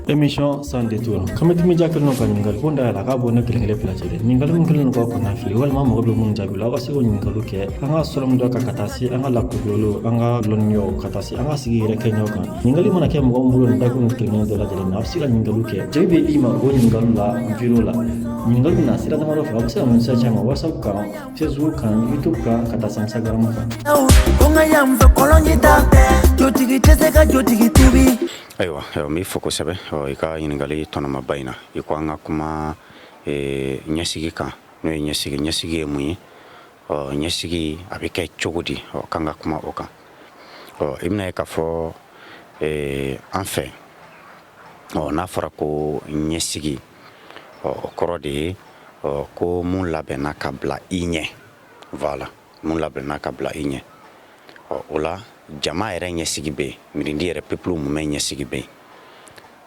émission sans détour xam nga dimi jàppale noonu ko ɲininkali ko da la k'a bɔ ne kelen kelen fila cɛ dɛ ɲininkali min kɛlen k'aw kɔnɔna fili walima mɔgɔ bɛ minnu jaabi la aw ka se k'o ɲininkaliw kɛ an ka sɔrɔmu dɔ kan ka taa se an ka lakodiyɔliw an ka lɔnniyaw ka taa se an ka sigi yɛrɛ kɛɲɛw kan ɲininkali mana kɛ mɔgɔ min bolo nin dakun kelen kelen dɔ lajɛlen na a bɛ se ka ɲininkaliw kɛ jaabi bɛ d'i ma o ɲininkaliw la video la ɲininkali bɛ na sira damadɔ fɛ aw bɛ se ka message ci an ma whatsapp kan Facebook kan youtube kan ka taa se instagram kan ko ka yan fɛkɔrɔn ta jotigi tɛ se ka jotigi tubi ayiwa n b'i fo kosɛbɛ i ka ɲininkali tɔnɔmaba in na i ko an ka kuma ɲɛsigi kan n'o ye ɲɛsigi ɲɛsigi ye mun ye ɔ ɲɛsigi a bɛ kɛ cogo di ɔ k'an ka kuma o kan ɔ i bɛna ye k'a fɔ enfin ɔ n'a fɔra ko ɲɛsigi ɔ o kɔrɔ de ye ɔ ko mun labɛnna ka bila i ɲɛ voilà mun labɛnna ka bila i ɲɛ ɔ o la jama yɛrɛ ɲɛsigi bɛ yen mirindi yɛrɛ peuple mumɛ ɲɛsigi bɛ yen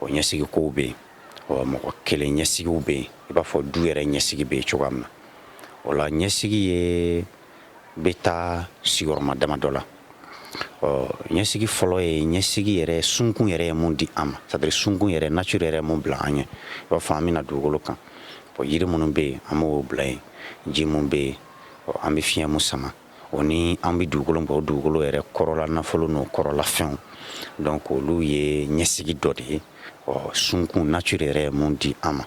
o ɲɛsigi kow bɛ yen ɔ mɔgɔ kelen ɲɛsigiw bɛ yen i b'a fɔ du yɛrɛ ɲɛsigi bɛ yen cogoya min na o la ɲɛsigi ye bɛ taa sigiyɔrɔma damadɔ la ɔ ɲɛsigi fɔlɔ ye ɲɛsigi yɛrɛ sunkun yɛrɛ ye mun di an ma c'est à dire sunkun yɛrɛ nature yɛrɛ mun bila an ɲɛ i b'a fɔ an bɛna dugukolo kan ɔ yiri minnu bɛ yen an b'o bila yen ji mun bɛ yen ɔ an bɛ fiɲɛ mun sama o ni an bɛ dugukolo bɔ dugukolo yɛrɛ kɔrɔla nafolo n'o kɔrɔla fɛnw donc olu ye ɲɛsigi dɔ de ye ɔ sunkun nature yɛrɛ ye mun di an ma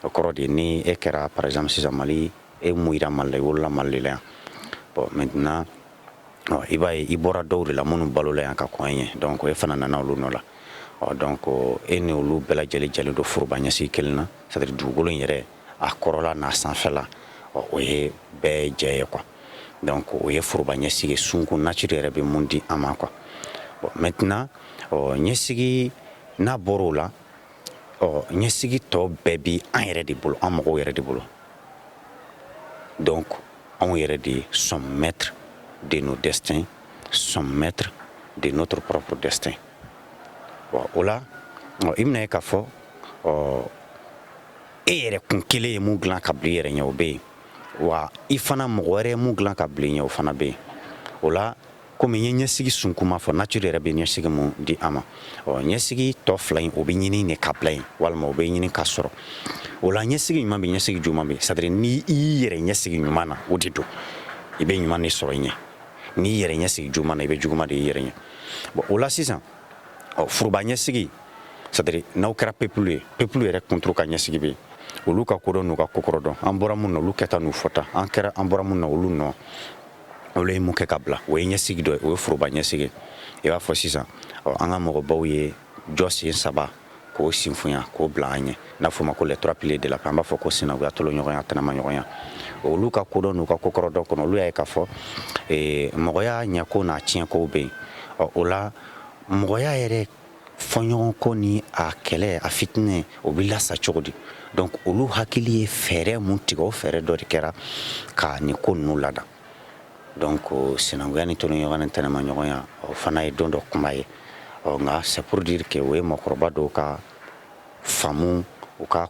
o kɔrɔ de ni e kɛra par exemple sisan mali E mun jira Mali la, i wolola Mali de la yan. Bon maintenant ɔ i b'a ye i bɔra dɔw de la minnu balola yan ka kɔn e ɲɛ donc e fana nana olu nɔ la ɔ donc e ni olu bɛɛ lajɛlen jɛlen don foroba ɲɛsigi kelen na c'est à dire dugukolo in yɛrɛ a kɔrɔla n'a sanfɛla ɔ o ye bɛɛ jɛ ye quoi donc o ye foroba ɲɛsigi sunkun nature yɛrɛ bɛ mun di an ma quoi bon maintenant ɔ ɲɛsigi n'a bɔr'o la ɔ ɲɛsigi tɔ bɛɛ bi an yɛrɛ de bolo an mɔgɔw yɛrɛ de bolo donc anw yɛrɛ de sommes maîtres de nos destins sommes maîtres de notre propre destin o la i bɛna ye k'a fɔ ɔ e yɛrɛ kun kelen ye mun dilan ka bila i yɛrɛ ɲɛ o bɛ yen wa i fana mɔgɔ wɛrɛ ye mun dilan ka bila i ɲɛ o fana bɛ yen o la Kɔmi n ye ɲɛsigi sunkunma fɔ nature yɛrɛ bɛ ɲɛsigi mun di an ma ɔ ɲɛsigi tɔ fila in o bɛ ɲini de ka bila yen walima o bɛ ɲini ka sɔrɔ o la ɲɛsigi ɲuman bɛ ɲɛsigi juguman bɛ c'est à dire n' i y'i yɛrɛ ɲɛsigi ɲuman na o de don i bɛ ɲuman de sɔrɔ i ɲɛ n'i yɛrɛ ɲɛsigi juguman na i bɛ juguman de i yɛrɛ ɲɛ bon o la sisan ɔ furuba ɲɛsigi c'est à dire n'aw kɛra peuple ye peuple yɛrɛ kuntu ka ɲɛsigi bɛ olu ka kodɔn n'u ka kokɔrɔ dɔn an bɔra min na olu kɛta n'u fɔta an kɛra an bɔra min na olu nɔ olu ye mun kɛ ka bila o ye ɲɛsigi dɔ ye o ye foroba ɲɛsigi i b'a fɔ sisan ɔ an ka mɔgɔbaw ye jɔsen saba k'o sinfunya k'o bila an ɲɛ n'a fɔ ma ko les trois piliers de la paix an b'a fɔ ko sinankuya tolonɲɔgɔnya tɛnɛmaɲɔgɔnya olu ka kodɔn n'u ka kokɔrɔdɔn kɔnɔ olu y'a ye k'a fɔ mɔgɔya ɲɛkow n'a tiɲɛkow bɛ yen ɔ o la mɔgɔya yɛrɛ fɔɲɔgɔnkɔ ni a kɛlɛ a fitinɛ o bɛ lasa cogo di donc olu hakili ye fɛɛrɛ mun tigɛ o fɛɛrɛ dɔ de kɛra ka nin ko ninnu lada donc sinankuya ni tolonɲɔgɔnya ni tɛnɛmaɲɔgɔnya o fana ye don dɔ kuma ye ɔ nka c'est pour dire que o ye mɔgɔkɔrɔba dɔw ka faamu u ka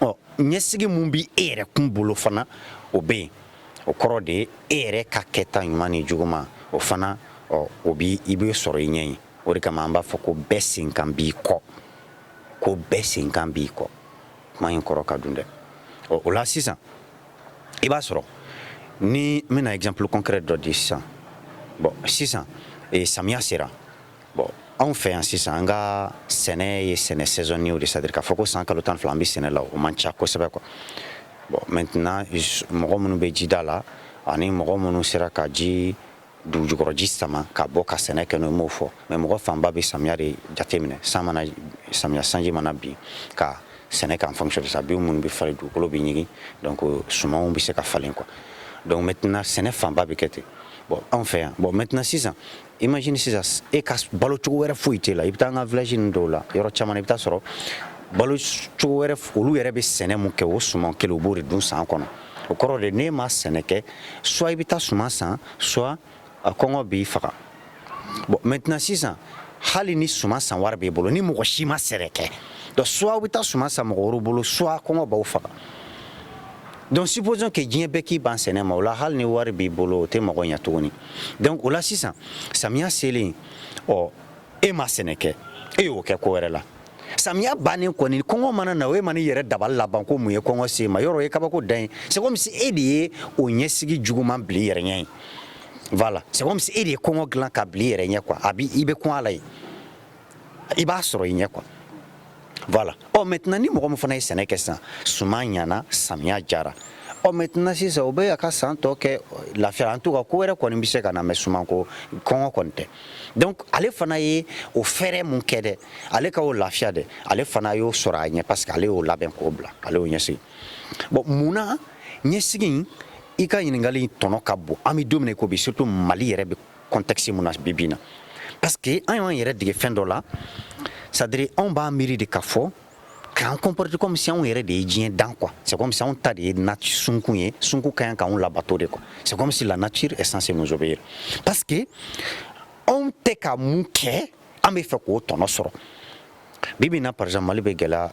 ɔ ɲɛsigi mun bi e yɛrɛ kun bolo fana o bɛ yen o kɔrɔ de ye e yɛrɛ ka kɛta ɲuman ni juguman o fana ɔ o bi i bɛ sɔrɔ i ɲɛ ye o de kama an b'a fɔ ko bɛɛ senkan b'i kɔ ko bɛɛ senkan b'i kɔ kuma in kɔrɔ ka dun dɛ ɔ o la sisan i b'a sɔrɔ ni n bɛna exemple concret dɔ di sisan bon sisan eh, samiya sera Bon anw fɛ yan sisan an ka sɛnɛ ye sɛnɛ saisonnier de c'est-à-dire k'a fɔ ko san kalo tan fila an bɛ sɛnɛ la o man ca kosɛbɛ quoi bon maintenant mɔgɔ minnu bɛ jida la ani mɔgɔ minnu sera ka ji dugujukɔrɔji sama ka bɔ ka sɛnɛ kɛ n'o m'o fɔ mais mɔgɔ fanba bɛ samiya de jateminɛ san mana samiya sanji mana bin ka sɛnɛ kɛ en fonction de ça bin minnu bɛ falen dugukolo bɛ ɲigin donc sumanw bɛ se ka falen quoi donc maintenant sɛnɛ fanba bɛ kɛ ten bon anw fɛ yan bon maintenant sisan imagine sisan e ka balo cogo wɛrɛ foyi t'e la i bɛ taa an ka village ninnu dɔw la yɔrɔ caman i bɛ taa sɔrɔ balo cogo wɛrɛ olu yɛrɛ bɛ sɛnɛ mun kɛ o suman kelen u b'o de dun san kɔnɔ o kɔrɔ de n'e ma sɛnɛ kɛ soit i bɛ taa suman san soit a kɔngɔ b'i faga bon maintenant sisan hali ni suman san wari b'i bolo ni mɔgɔ si ma sɛnɛ kɛ donc soit aw bɛ taa suman san mɔgɔ wɛrɛw bolo soit kɔngɔ b'aw faga donc supposons que diɲɛ bɛɛ k'i ban sɛnɛ ma o la hali ni wari b'i bolo o tɛ mɔgɔ ɲɛ tuguni donc o la sisan samiya selen ɔ e ma sɛnɛ kɛ e y'o kɛ ko wɛrɛ la samiya bannen kɔni kɔngɔ mana na o e mana i yɛrɛ dabali laban ko mun ye kɔngɔ se e ma yɔrɔ ye kabako dan ye c'est comme si e de ye o ɲɛsigi juguman bil'i yɛrɛ ɲɛ ye voilà c'est comme si e de ye kɔngɔ dilan ka bil'i yɛrɛ ɲɛ quoi a bi i bɛ kɔn a la ye i b'a sɔrɔ i ɲɛ quoi voilà ɔ maintenant ni mɔgɔ min fana ye sɛnɛ kɛ sisan suman ɲana samiya jara ɔ maintenant sisan o bɛ a ka san tɔ kɛ lafiya en tout cas ko wɛrɛ kɔni bɛ se ka na mais sumanko kɔngɔ kɔni tɛ donc ale fana ye o fɛɛrɛ mun kɛ dɛ ale ka o lafiya dɛ ale fana y'o sɔrɔ a ɲɛ parce que ale y'o labɛn k'o bila ale y'o ɲɛsigi bon munna ɲɛsigi in i ka ɲininkali in tɔnɔ ka bon an bɛ don min na i ko bi surtout mali yɛrɛ bɛ contexte mun na bi bi in na parce que an y'an yɛrɛ dege fɛn dɔ la c'est à dire anw b'a miiri de k'a fɔ k'an comporter comme si anw yɛrɛ de ye diɲɛ dan quoi c'est comme si anw ta de ye nati sunkun ye sunkun ka ɲi k'anw labato de quoi c'est comme si la nature est censée nous obéir parce que anw tɛ ka mun kɛ an b'a fɛ k'o tɔnɔ sɔrɔ bi bi in na par exemple mali bɛ gɛlɛya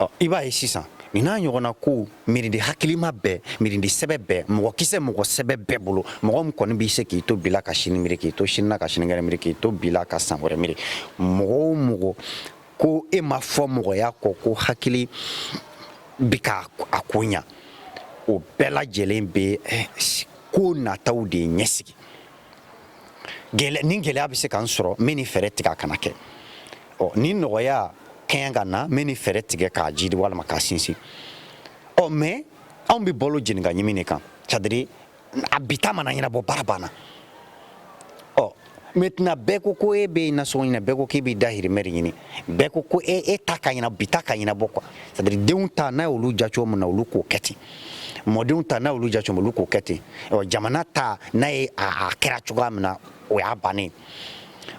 ɔ i b'a ye sisan nin n'a ɲɔgɔnna kow miirili hakilima bɛɛ miirili sɛbɛ bɛɛ mɔgɔ kisɛ mɔgɔ sɛbɛ bɛɛ bolo mɔgɔ min kɔni b'i se k'i to bi la ka sini miiri k'i to sini na ka sinikɛnɛ miiri k'i to bi la ka san wɛrɛ miiri mɔgɔ o mɔgɔ ko e ma fɔ mɔgɔya kɔ ko hakili bi ka a ko ɲa o bɛɛ lajɛlen bɛ eh, ko nataw de ɲɛsigi ni gɛlɛya bɛ se ka n sɔrɔ n bɛ nin fɛɛrɛ tigɛ a kana kɛ ɔ ni nɔgɔya ka ɲi ka na n bɛ nin fɛɛrɛ tigɛ k'a jiidi walima k'a sinsin ɔ mais anw bɛ balo jeni ka ɲimi de kan c'est à dire a bi ta mana ɲɛnabɔ baara banna ɔ maintenant bɛɛ ko ko e bɛ nasɔngɔ ɲini bɛɛ ko k'e b'i dahirimɛ de ɲini bɛɛ ko ko e e ta ka ɲɛna bi ta ka ɲɛnabɔ quoi c'est à dire denw ta n'a y'olu ja cogo min na olu k'o kɛ ten mɔdenw ta n'a olu ja cogo olu k'o kɛ ten jamana ta n'a ye a kɛra cogoya min na o y'a bannen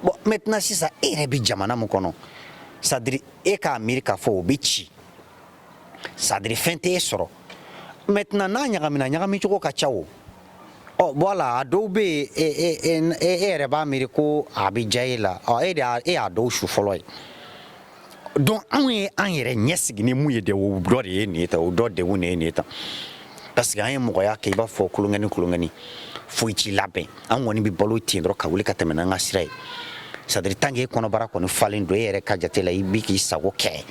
bon maintenant sisan e yɛrɛ bɛ jamana min kɔnɔ c'est à dire e k'a miiri k'a fɔ o bɛ ci c'est à dire fɛn tɛ e sɔrɔ maintenant n'a ɲagamina ɲagami cogo ka ca o ɔ voilà a dɔw bɛ yen e, e, e, e yɛrɛ b'a miiri ko a bɛ diya e la ɔ e de e y'a dɔw su fɔlɔ ye donc anw ye an yɛrɛ ɲɛsigi ni mun ye de o dɔ de ye nin ye tan o dɔ degun de ye nin ye tan parce que an ye mɔgɔya kɛ i b'a fɔ kolonkɛni kolonkɛni foyi t'i labɛn an kɔni bɛ balo ten dɔrɔn ka wuli ka tɛmɛ n'an ka sira ye c'est à dire tant que e kɔnɔbara kɔni falen don e yɛrɛ ka jate la i bi k'i sago kɛ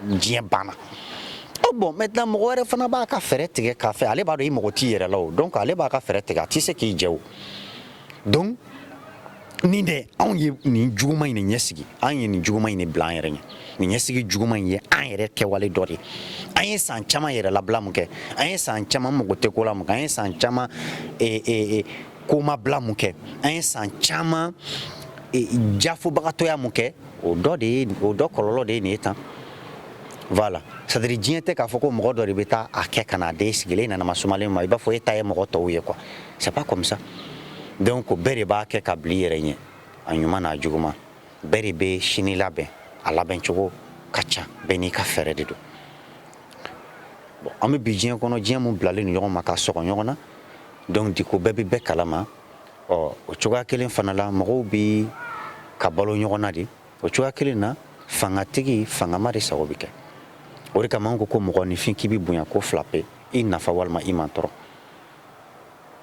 diɲɛ banna o bon maintenant mɔgɔ wɛrɛ fana b'a ka fɛɛrɛ tigɛ k'a fɛ ale b'a dɔn i mago t'i yɛrɛ la o donc ale b'a ka fɛɛrɛ tigɛ a tɛ se k'i jɛ o donc nin dɛ anw ye nin juguman in de ɲɛsigi an ye nin juguman in de bila an yɛrɛ ɲɛ nin ɲɛsigi juguman in ye an yɛrɛ kɛwale dɔ de ye an ye san caman yɛrɛ labila mun kɛ an ye san caman mago tɛ ko la mun kɛ an ye san caman eh, eh, eh, komabila mun kɛ an ye san caman eh, jafobagatɔya mun kɛ o dɔ de ye o dɔ kɔlɔlɔ de ye nin ye tan voilà c'est à dire diɲɛ tɛ k'a fɔ ko mɔgɔ dɔ de bɛ taa a kɛ ka na a d'e sigilen nana masumalen ma i b'a fɔ e ta ye mɔgɔ tɔw ye quoi c'est pas comme ça donc bɛɛ de b'a kɛ ka bil'i yɛrɛ ɲɛ a ɲuman n'a juguman bɛɛ de bɛ sini labɛn a labɛn cogo ka ca bɛɛ n'i ka fɛɛrɛ de don bon an bɛ bi diɲɛ kɔnɔ diɲɛ mun bilalen don ɲɔgɔn ma ka sɔgɔ ɲɔgɔn na donc du coup bɛɛ bɛ bɛɛ kalama ɔ o cogoya kelen fana la mɔgɔw bɛ ka balo ɲɔgɔn na de o cogoya kelen na fangatigi fangama de sago bɛ kɛ o de kama an ko ko mɔgɔninfin k'i bɛ bonya ko fila pe i nafa walima i mantɔɔrɔ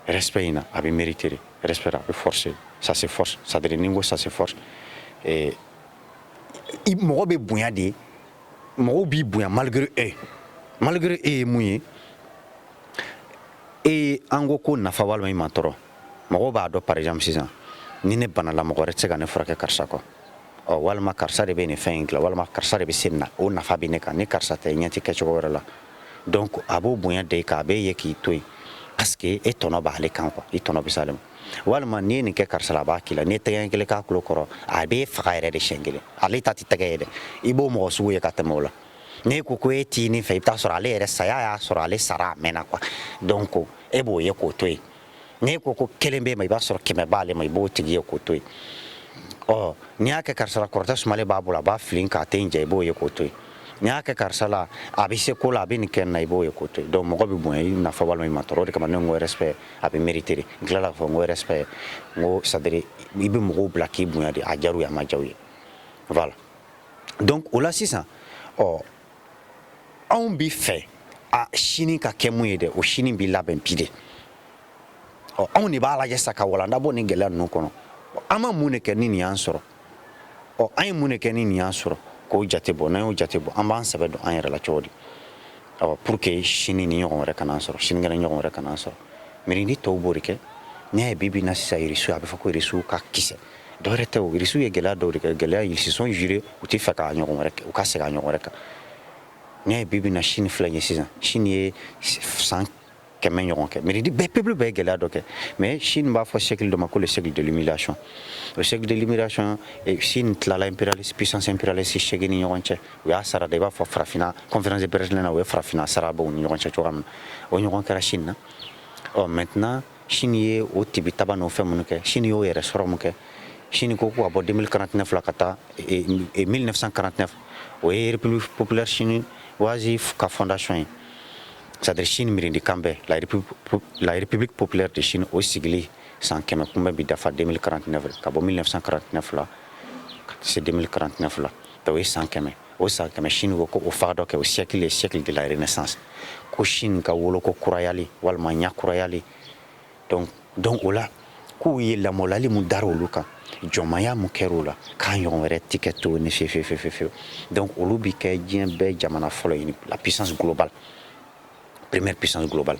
Respect in na a bɛ mériter de respect a bɛ forcer ça se force c'est à dire ni n ko ça se force mɔgɔ bɛ bonya de mɔgɔw b'i bonya malgré e malgré e ye mun ye e an ko ko nafa walima i mantɔɔrɔ mɔgɔ b'a dɔn par exemple sisan ni ne banala mɔgɔ wɛrɛ tɛ se ka ne furakɛ karisa kɔ ɔ walima karisa de bɛ nin fɛn in dilan walima karisa de bɛ se nin na o nafa bɛ ne kan ni karisa tɛ ɲɛ ti kɛ cogo wɛrɛ la donc a b'o bonya da i kan a b'e ye k'i to yen parce que e tɔnɔ b'ale kan quoi i tɔnɔ bɛ s'ale ma walima n'i ye nin kɛ karisa la a b'a k'i la n'i ye tɛgɛ kelen k'a tulo kɔrɔ a b'e faga yɛrɛ de siyɛn kelen ale ta tɛ tɛgɛ ye dɛ i b'o mɔgɔ sugu ye ka tɛmɛ o la n'i ko ko e t'i nin fɛ i bi t'a sɔrɔ ale yɛrɛ saya y'a sɔrɔ ale sara a mɛnna quoi donc e b'o ye k'o to yen n'i ko ko kelen b'e ma i b'a sɔrɔ kɛmɛ b'ale ma i b'o tigi ye k'o to yen ɔ n'i y'a kɛ karisa la kɔrɔtɛ sumalen b'a bolo a b'a fili k'a tɛ n jɛ i b'o ye k'o to yen n'i y'a kɛ karisa la a bɛ se ko la a bɛ nin kɛ n na i b'o ye k'o to yen donc mɔgɔ bɛ bonya i nafa walima i mantɔɔrɔ o de kama ne ko respect a bɛ mériter n tilala k'a fɔ n ko respect n ko c'est à dire i bɛ mɔgɔw bila k'i bonya de a diyar'u ye a ma diya u ye voilà donc o la sisan ɔ anw bi fɛ a sini ka kɛ mun ye dɛ o sini bi labɛn bi de ɔ anw de b'a lajɛ sa ka walanda bɔ nin gɛlɛya ninnu kɔnɔ an ma mun de kɛ ni nin y'an sɔrɔ ɔ an ye mun de kɛ ni nin y'an sɔrɔ k'o jate bɔ n'an y'o jate bɔ an b'an sɛbɛ don an yɛrɛ la cogo di awa pour que sini nin ɲɔgɔn wɛrɛ kan'an sɔrɔ sinikɛnɛ ɲɔgɔn wɛrɛ kan'an sɔrɔ mirindi tɔw b'o de kɛ n'i y'a ye bi bi in na sisan irisiw a bɛ fɔ ko irisiw ka kisɛ Dɔwɛrɛ tɛ irisiw ye gɛlɛya dɔw de kɛ gɛlɛya ils se sont juré u tɛ fɛ k'a ɲɔgɔn wɛrɛ u ka segin a ɲɔgɔn wɛrɛ kan n'i y'a ye bi bi in na Chine filɛ ye sisan Chine ye san kɛmɛ ɲɔgɔn kɛ mirindi bɛɛ peuple bɛɛ ye gɛlɛya dɔ kɛ mais Chine b'a fɔ siècle dɔ ma ko siècle de l'humiliation o siècle de l'humiliation Chine tilala impérialiste puissance impérialiste seegin ni ɲɔgɔn cɛ u y'a sara de i b'a fɔ farafinna conférence de Berlin na u ye farafinna sara u ni ɲɔgɔn cɛ cogoya min o ɲɔgɔn kɛra Chine na ɔ mɛt Chine ye o tibi taba n'o fɛn minnu kɛ Chine y'o yɛrɛ sɔrɔ min kɛ Chine ko ko ka bɔ 2049 la ka taa 1949 o ye république populaire chinoise ka fondation ye c'est-à-dire Chine mirindi kanbɛn la république, la république populaire de Chine o sigili san kɛmɛ kunbɛn bi dafa 2049 ka bɔ 1949 la ka se 2049 la o ye san kɛmɛ o san kɛmɛ Chine ko ko o fa dɔ kɛ o siècle ye siècle de la renaissance ko Chine ka woloko kurayali walima ɲa kurayali donc donc o la k'u ye lamɔlali mun dara olu kan jɔnmaya mun kɛra u la k'a ɲɔgɔn wɛrɛ ti kɛ tuguni fefefefefew donc olu bi kɛ diɲɛ bɛɛ jamana fɔlɔ ye la puissance globale première puissance globale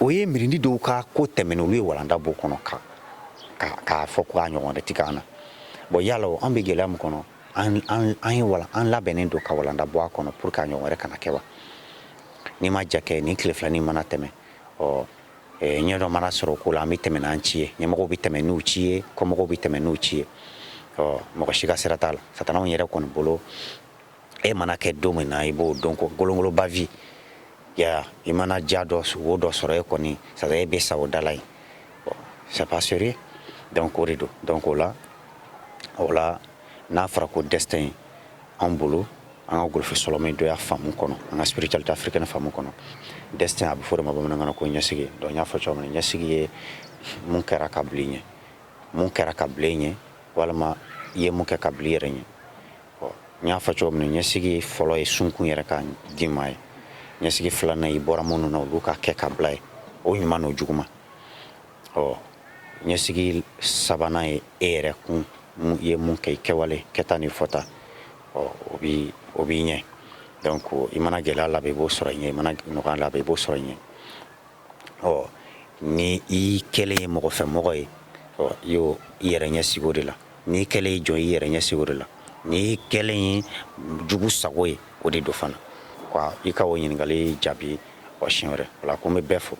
o ye miirindi dɔw ka ko tɛmɛnen olu ye walanda b'o kɔnɔ ka k'a fɔ ko a ɲɔgɔn wɛrɛ tɛ k'an na bon yala an bɛ gɛlɛya min kɔnɔ an ye wala an labɛnnen don ka walanda bɔ a kɔnɔ pour que a ɲɔgɔn wɛrɛ kana kɛ wa n'i ma ja kɛ ni tile filanin mana tɛmɛ ɔ ɲɛ dɔ mana sɔrɔ ko la an bɛ tɛmɛ n'an ci ye ɲɛmɔgɔw bɛ tɛmɛ n'u ci ye kɔmɔgɔw bɛ tɛmɛ n'u ci ye ɔ mɔgɔ si ka sira t'a la satanaw yɛrɛ kɔni bolo e mana kɛ don min na i b'o dɔn ko golongoloba vi ya i mana ja dɔ wo dɔ sɔrɔ e kɔni sara e bɛ sa o da la yen c'est pas sérieux donc o de don donc o la o la n'a fɔra ko destin an bolo an ka golofin sɔlɔmɛdɔya faamu kɔnɔ an ka spiritualité africaine faamu kɔnɔ destin a bɛ fɔ de ma bamanankan na ko ɲɛsigi donc n y'a fɔ cogo min na ɲɛsigi ye mun kɛra ka bila i ɲɛ mun kɛra ka bila i ɲɛ walima i ye mun kɛ ka bila i yɛrɛ ɲɛ N y'a fɔ cogo min ɲɛsigi fɔlɔ ye sunkun yɛrɛ ka dima ye ɲɛsigi filanan i bɔra minnu na olu ka kɛ ka bila ye o ɲuman o juguman ɔ ɲɛsigi sabanan ye e yɛrɛ kun ye mun kɛ i kɛwale kɛta ni fɔta ɔ o b'i ɲɛ donc i mana gɛlɛya la i b'o sɔrɔ i ɲɛ i mana nɔgɔya la i b'o sɔrɔ i ɲɛ ɔ ni i kɛlen ye mɔgɔfɛmɔgɔ ye ɔ i y'o i yɛrɛ ɲɛsigi o de la N'i kɛlen ye jɔn i yɛrɛ ɲɛsigi o de la n'i kɛlen ye jugu sago ye o de don fana i ka o ɲininkali jaabi wa siɲɛ wɛrɛ wala ko n bɛ bɛɛ fo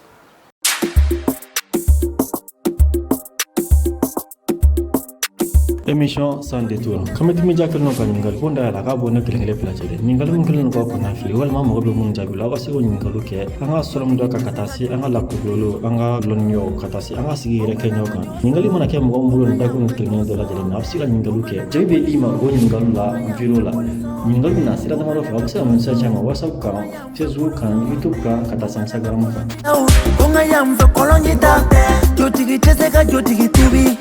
émission sans détour kamaja kelen ka ɲininkali ko da la k'a bɔ ne kelen kelen bila lajɛlen ɲininkali min kɛlen ka kɔnɔnafili walima mɔgɔ bɛ minnu jaabi la aw ka se k'o ɲininkali kɛ an ka sɔlɔmɛ dɔ kan ka taa se an ka lakɔli an ka dɔnniya ka taa se an ka sigi yɛrɛ kɛɲa kan Ɲininkali mana kɛ mɔgɔ minnu bolo dakun kelen dɔ lajɛlen na a bɛ se ka ɲininkali kɛ jaabi bɛ d'i ma o ɲininkali la video la ɲininkali na sira damadɔ fɛ a bɛ se ka message ci an ma whatsapp kan facebook kan youtube kan ka taa se instagram kan ko n ka yan fɛ kɔlɔnji t'a fɛ jotigi tɛ se ka jotigi tubi